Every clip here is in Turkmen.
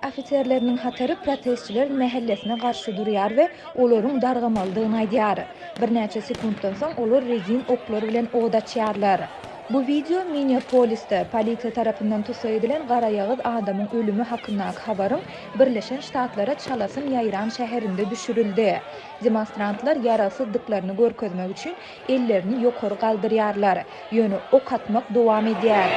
Ofiserleriniň hatary protestçiler mähellesine garşy durýar we olaryň dargamalydygyny aýdýar. Birnäçe sekuntdan soň olar rezin oklar bilen od açýarlar. Bu wideo Minneapolisde polisiýa tarapyndan tussag edilen garaýagyz adamyň ölümi hakyndaky habaryň Birleşen Ştatlara çalasyn ýaýran şäherinde düşürildi. Demonstrantlar ýaragsyzdyklaryny görkezmek üçin Ellerini ýokary galdyrýarlar. Ýöne ok atmak dowam edýär.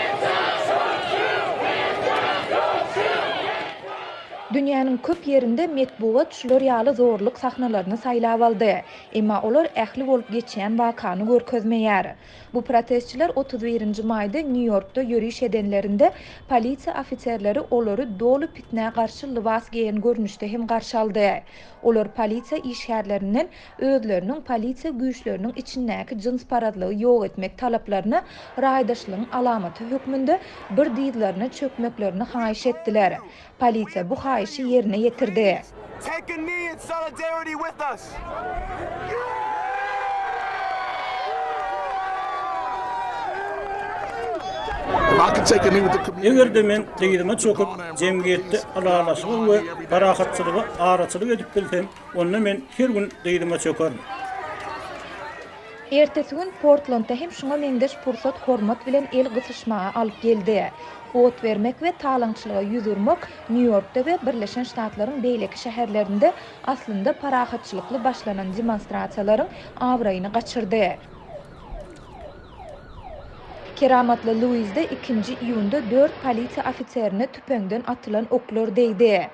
Dünýäniň köp ýerinde metbugat şular ýaly zorluk sahnalaryny saýlap aldy. Emma olar ähli bolup geçýän wakany görkezmeýär. Bu protestçiler otuz birinji maýda Nýu-Ýorkda ýöriş edenlerinde, polisiýa ofiserleri olary doly pitnä garşy lybas geýen görnüşde hem garşy aldy. Olar polisiýa işgärlerinden, özleriniň polisiýa güýçleriniň içindäki jynsparazlygy ýok etmek talaplaryna raýdaşlygyň alamaty hökmünde bir dyzlaryna çökmeklerini haýyş etdiler. Polisiýa bu haýyşy ýerine ýetirdi. Eger-de men dyzyma çöküp, jemgyýetde ylalaşyga we parahatçylyga araçylyk edip bilsem, onda men her gün dyzyma çökerin. Ertesi gün Portlandda hem şuňa meňzeş pursat hormat bilen el gysyşmaga alyp geldi. Ot bermek we talaňçylyga ýüz urmak Nýu-Ýorkda we Birleşen Ştatlaryň beýleki şäherlerinde aslynda parahatçylykly başlanan demonstrasiýalaryň abraýyny gaçyrdy. Keramatly Luizde ikinji iýunda dört polisiýa ofiserine tüpeňden atylan oklar degdi.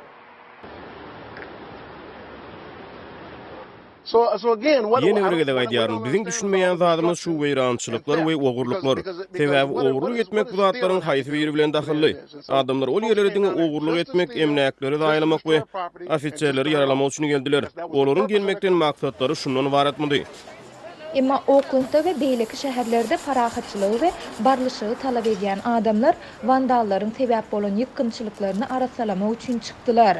Ýene bir gezek aýdýaryn, biziň düşünmeýän zadymyz şu weýrançylyklar we ogurlyklar. Sebäbi ogurlyk etmek bu zatlaryň haýsy biri bilen dahylly? Adamlar ol ýerlere diňe ogurlyk etmek, emläkleri zaýalamak we ofiserleri ýaralamak üçin geldiler. Olaryň gelmekden maksatlary şundan ybaratmydy? Emma Oklendda we beýleki şäherlerde parahatçylygy we barlyşygy talap edýän adamlar wandallaryň sebäp bolan ýykgynçylyklaryny arassalamak üçin çykdylar.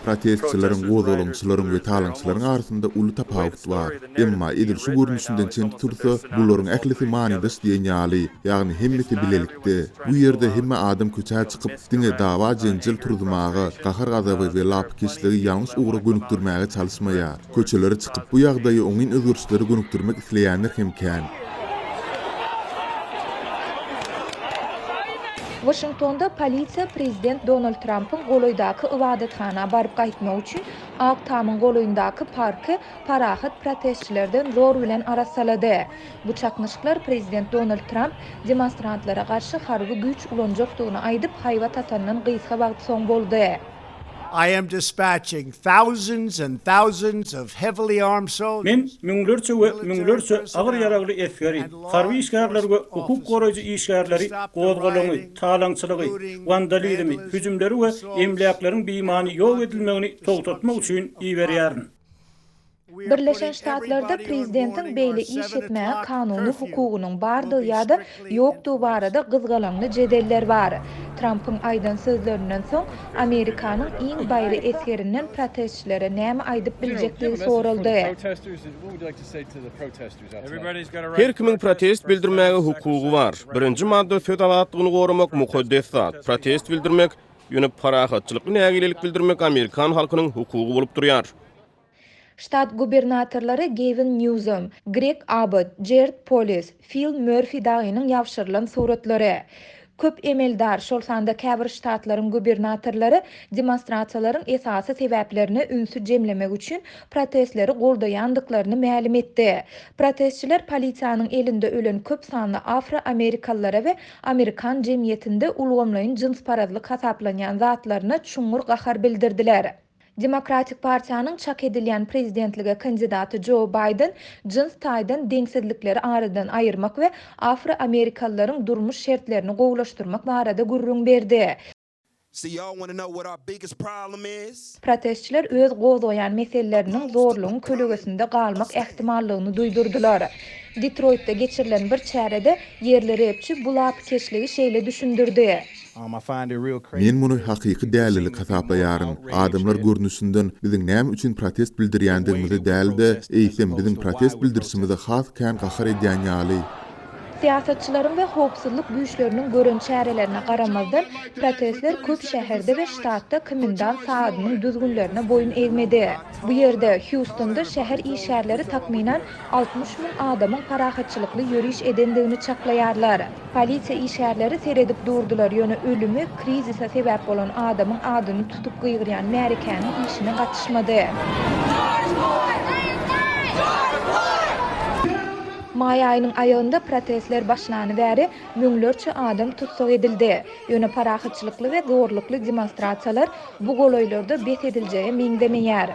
Protestçileriň, gozgalaňçylaryň we talaňçylaryň arasynda uly tapawut bar. Emma, edil şu görnüşinden çen tutulsa, bularyň ählisi manydaş diýen ýaly, ýagny hemmesi bilelikde. Bu ýerde hemme adam köçä çykyp, diňe dawa-jenjel turuzmaga, gahar-gazaby we lapykeçligi ýalňyş ugra gönükdirmäge çalyşmaýar. Köçelere çykyp, bu ýagdaýy oňyn özgerişlere gönükdirmek isleýänler hem kän. Waşingtonda polisiýa prezident Donald Trampyň golaýdaky ybadathana baryp gaýtmagy üçin Ak tamyň golaýyndaky parky parahat protestçilerden zor bilen arassalady. Bu çaknyşyklar prezident Donald Tramp demonstrantlara garşy harby güýç ulanjakdygyny aýdyp, haýbat atandan gysga wagt soň boldy. I am dispatching thousands and thousands of heavily armed Men soldiers, müňlerçe we military müňlerçe agyr personnel, ýaragly esgeri, and law harby işgärleri we enforcement hukuk officers goraýjy to işgärleri stop the gozgalaňy, rioting, talaňçylygy, looting, wandalizmi, vandalism, hüjümleri we assaults, emläkleriň beýmany ýok edilmegini togtatmak üçin iberýärin. Birleşen Ştatlarda prezidentiň beýle iş etmäge kanuny hukugynyň bardygy ýa-da ýokdugy barada gyzgalaňly jedeller bar. Trampyň aýdan sözlerinden soň, Amerikanyň iň baýry esgerinden protestçilere näme aýdyp biljekdigi soraldy. Her kimiň protest bildirmäge hukugy bar. Birinji madda söz azatlygyny goramak mukaddes zat. Protest bildirmek, ýöne parahatçylykly nägilelik bildirmek amerikan halkynyň hukugy bolup durýar. Ştat gubernatorlary Gewin Nýuzom, Greg Abbott, Jerd Polis, Fil Mörfi dagynyň ýabşyrylan suratlary. Köp emeldar, şol sanda käbir ştatlaryň gubernatorlary demonstrasiýalaryň esasy sebäplerine ünsi jemlemek üçin protestleri goldaýandyklaryny mälim etdi. Protestçiler polisiýanyň elinde ölen köp sanly afroamerikalylara we amerikan jemgyýetinde ulgamlaýyn jynsparazlyk hasaplanýan zatlaryna çuňňur gahar bildirdiler. Demokratik partiýanyň çak edilýän prezidentlige kandidaty Jo Baýden jyns taýdan deňsizlikleri aradan aýyrmak we afroamerikalylaryň durmuş şertlerini gowulaşdyrmak barada gürrüň berdi. Protestçiler öz gozgaýan meseleleriniň zorlugyň kölegesinde galmak ähtimallygyny duýdurdylar. Detroýtda geçirilen bir çärede ýerli repçi bu lapykeçligi şeýle düşündirdi. Men muny hakyky dälilik hasaplaýaryn. Adamlar görnüşinden biziň näme üçin protest bildirýändigimizi däl-de, eýsem biziň protest bildirişimize has kän gahar edýän ýaly. Syýasatçylaryň we howpsuzlyk güýçleriniň gören çärelerine garamazdan, protestler köp şäherde we ştatda komendant saadynyň düzgünlerine boýun egmedi. Bu ýerde, Hýustonda şäher işgärleri takmynan Altmyş müň adamyň parahatçylykly ýöriş edendigini çaklaýarlar. Polisiýa işgärleri seredip durdular, ýöne ölümi, krizise sebäp bolan adamyň adyny tutup gygyrýan märekäniň işine gatyşmady. Maý aýynyň aýagynda protestler başlany bäri müňlerçe adam tussag edildi. Ýöne parahatçylykly we zorlukly demonstrasiýalar Bu golaýlarda bes ediljege meňzemeýär.